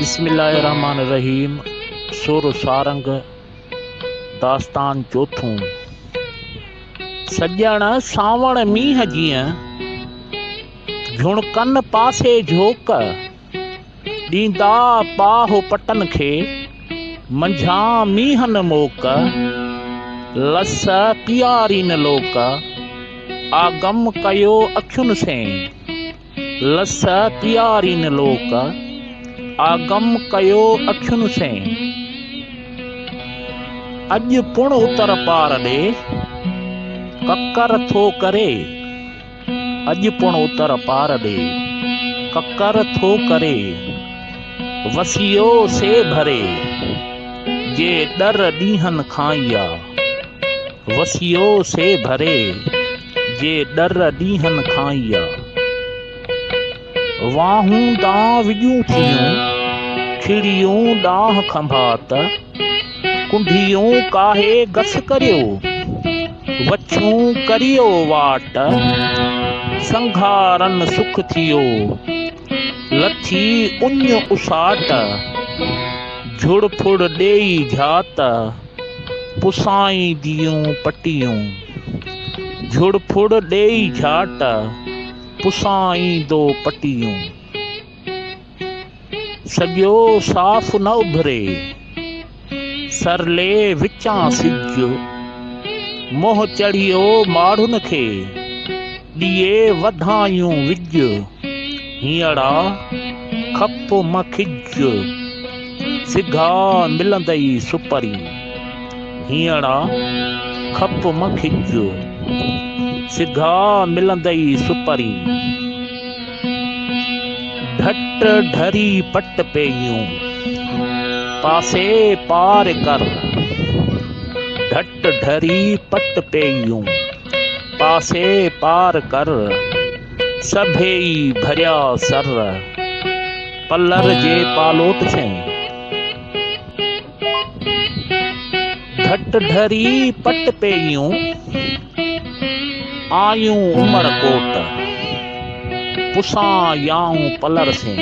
بسم الله الرحمٰن الرحيم سر و سارنگ داستان چوٿون سڄڻ سانوڻ مينهن جيئن جھڻڪن پاسي جھوڪ ڏيندا پاهه پٽن کي منجھان مينهن موڪ لس پيارين لوڪ آگم ڪيو اکين سين لس پيارين لوڪ آگم ڪيو اکين سين. اڄ پڻ اتر پار ڏي ڪڪر ٿو ڪري. اڄ پڻ اتر پار ڏي ڪڪر ٿو ڪري. وسيو سي ڀري جي ڏر ڏينهن کان يا. وسيو سي ڀري جي ڏر ڏينهن کان ئي آ. واهون ڏانهن وڄون ٿيون، ڇڙيون ڏانهن کنڀا ته، ڪنڍيون ڪاهي گس ڪريو، وڇون ڪريو واٽ، سنگهارن سک ٿيو. لٿي اڃ اساٽ، جھڙ ڦڙ ڏيئي جھات، پسائين ديون پٽيون. جھڙ ڦڙ ڏيئي جھاٽ، پسائين دو پٽيون. سڄو صاف نه اڀري. سرلي وچان سج منهن چڙهيو ماڙهن کي، ڏيئي وڌايون وج، هينئڙا کپ م کج، سگها ملندئي سپرين، هينئڙا کپ م کج، سگها ملندئي سپرين. ڍٽ ڍري پٽ پيئون، پاسي پار ڪر. ڍٽ ڍري پٽ پيئون، پاسي پار ڪر. سڀيئي ڀريا سر، پلر جي پالوٽ سين. گهٽ ڍري پٽ پيريون، آيون عمر ڪوٽ. پسان يائون پلر سين،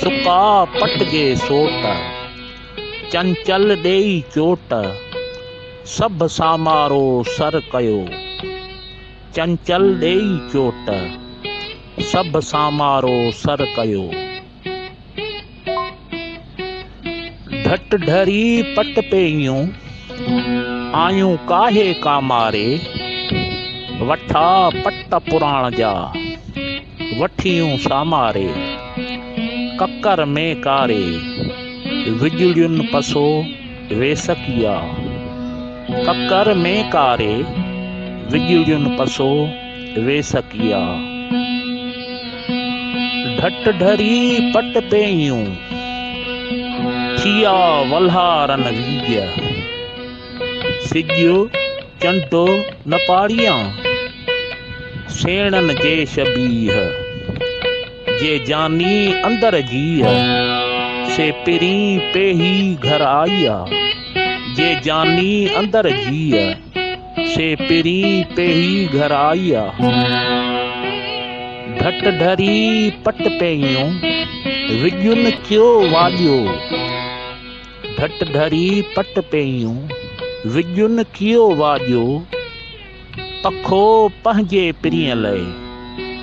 سڪا پٽجي سوٽ. چنچل ڏيئي چوٽ، سڀ سامارو سر ڪيو. چنچل ڏيئي چوٽ، سڀ سامارو سر ڪيو. ڍٽ ڍري پٽ پيئيون، آيون ڪاهي ڪاماري، وٺا پٽ پراڻ جا، وٺيون ساماري، ڪڪر ۾ ڪاري، وڄڙين پسو ويسڪيا، ڪڪر ۾ ڪاري، وڄڙين پسو. ويسڪيا ڍٽ ڍري پٽ پيهيون، ٿيا ولهارن ويجهه. سڄيو چنڊو نه پاڙيان، سيڻن جي شبيهه. جي جاني اندر جيء، سي پرين پيهي گهر آئيا. جي جاني اندر جيء. سي پرين پيهي گهر آئي آ. ڍٽ ڍري پٽ پيهيون، وڳين ڪيو واڄيو. ڍٽ ڍري پٽ پيهيون، وڳين ڪيو واڄيو. پکو پنهنجي پرين لئي،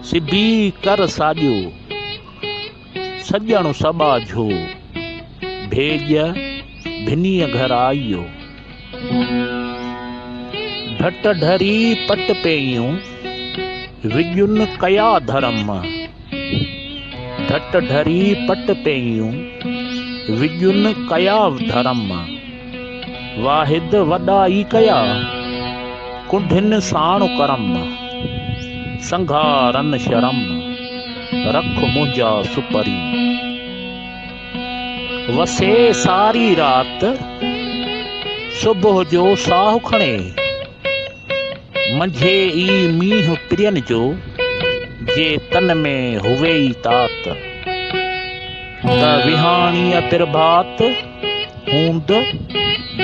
سبي ڪر ساڄيو. سڄڻ سٻا جھو، ڀيڄ ڀنيء گھر آيو. ڍٽ ڍري پٽ پيئيون، وڄن ڪيا ڌرم. ڍٽ ڍري پٽ پيئيون، وڄن ڪيا ڌرم. واحد وڏا ئي ڪيا، ڪنڍين ساڻ ڪرم. سنگهارن شرم، رک منهنجا سپري. وسي ساري رات، صبح جو ساهه کڻي. منجهي ئي مينهن پرين جو، جي تن ۾ هئي ئي تات. ته وهاڻيء پرڀات. هوند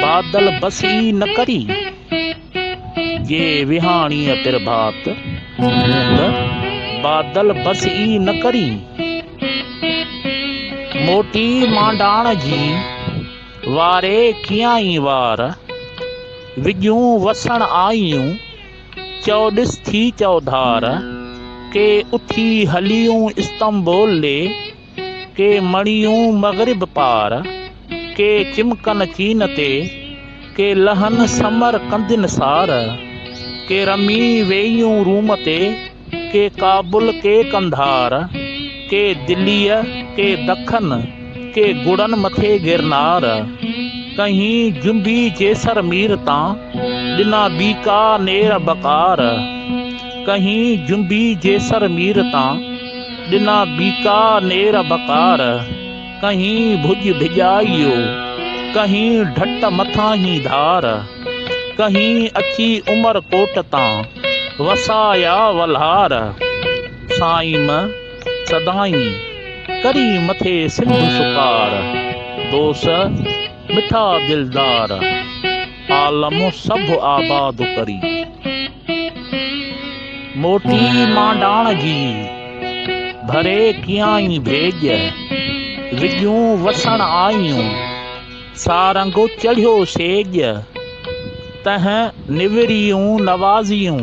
بادل بس ئي نه ڪري، جي وهاڻيء پرڀات هوند بادل بس ئي نه ڪري، موٽي مانڊاڻ جي واري ڪيائين وار، وڄون وسڻ آيون چئوڏس ٿي چئوڌار، ڪي اٿي هليون استنبول ڏي، ڪي مڙيون مغرب پار، ڪي چمڪن چين تي، ڪي لهن سمر ڪندين سار، ڪي رمي ويئيون روم تي، ڪي ڪابل ڪي قنڌار، ڪي دليء ڪي دکن، ڪي گڙن مٿي گرنار، ڪنهين جنبي جيسر مير تان، ڏنا بيڪا نير بڪار، ڪنهين جنبي جيسر مير تان، ڏنا بيڪا نير بڪار، ڪنهين ڀڄ ڀڄائيو، ڪنهين ڍٽ مٿانهين ڌار، ڪنهين اچي عمر ڪوٽ تان، وسايا ولهار. سائيم سدائين ڪري مٿي سنڌ سڪار، دوس مٺا دلدار، عالم سڀ آباد ڪري. موٽي مانڊاڻ جي، ڀري ڪيائين ڀيڄ، وڳيون وسڻ آيون، سارنگ چڙهيو سيڄ، تنهن نوريون نوازيون،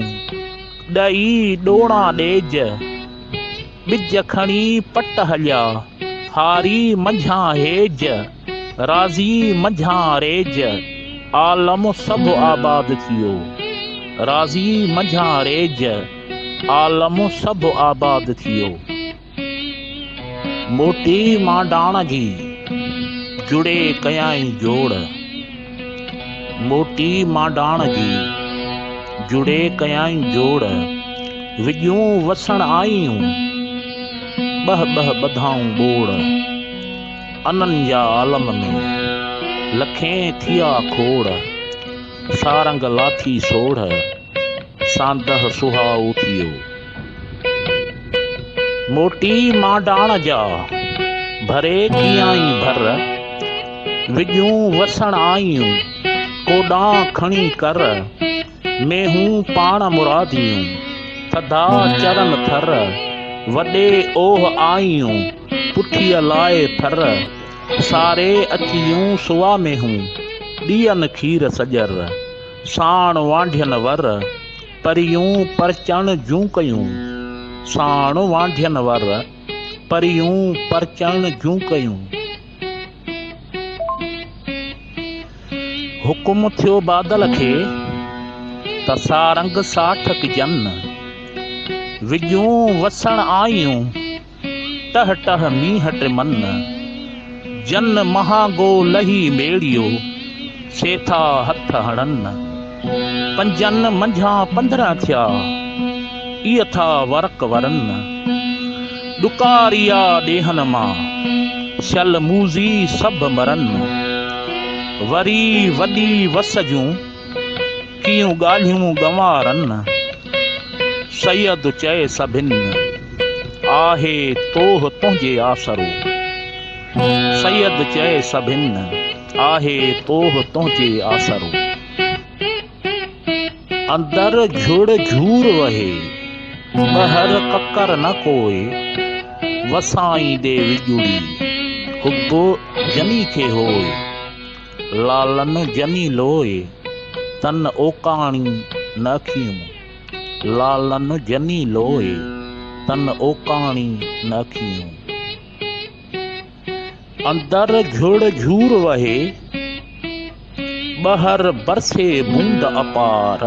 ڏئي ڏوڻا ڏيڄ، ٻج کڻي پٽ هليا، هاري منجهان هيج. راضي منجهان ريج عالم سڀ آباد ٿيو راضي منجهان ريج عالم سڀ آباد ٿيو موٽي مانڊاڻ جي جڙي ڪيائين جوڙ موٽي مانڊاڻ جي جڙي ڪيائين جوڙ وڄون وسڻ آئيون ٻه ٻه ٻڌائون ٻوڙ انن جا عالم ۾ لکين ٿيا کوڙ، سارنگ لاٿي سوڙهه، ساندهه سهائو ٿيو. موٽي مانڊاڻ جا، ڀري ڪيائين ڀر، وڄون وسڻ آيون، ڪوڏان کڻي ڪر. ۾ هون پاڻ مراديون، ٿڌا چرن ٿر، وڏي اوه آئيون، پٺيء لاء ٿر، ساري اچيون سوا ۾ هون، ڏين کير سڄر، ساڻ وانڍين ور، پريون پرچڻ جون ڪيون، ساڻ وانڍين ور، پريون پرچڻ جون ڪيون. حڪم ٿيو بادل کي ته سارنگ ساٺ ڪجن. وڄون وسڻ آيون ٽه ٽه مينهن ٽمن. جن مهانگو لهي ميڙيو سيٿا هٿ هڻن. پنجن منجهان پندرهن ٿيا، اي اٿا ورق ورن. ڏڪاريا ڏيهن مان، سيل موذي سڀ مرن. وري وڏي وس جون، ڪيئون ڳالهيون ڳنوارن. سيد چئي سڀن، آهي توه تنهنجي آسرو. سيد چئي سڀن. آهي توه تنهنجي آسرو. اندر جهڙ جهور وهي، ٻهر ڪڪر نه ڪوئي. وسائين دي وڄوڙي، حب جني کي هوئي. لالن جني لوئي، تن اوڪاڻي نه اکيون. لالن جني لوئي، تن اوڪاڻي نه اکيون. اندر گهڙ گهور وهي، ٻاهر برسي بوند اپار.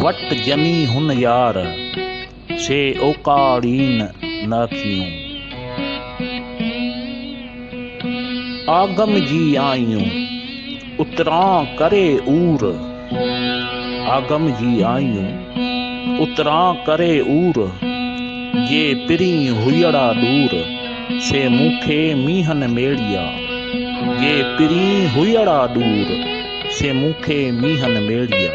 وٽ ڄمي هن يار، سي اوڪاڙين نه ٿيون. آگم جي آيون، اتران ڪري عور. آگم جي آيون اتران ڪري عور، جي پرين هئڙا ڏور، سي مون کي مينهن ميڙيا، جي پرين هئڙا ڏور، سي مون کي مينهن ميڙيا.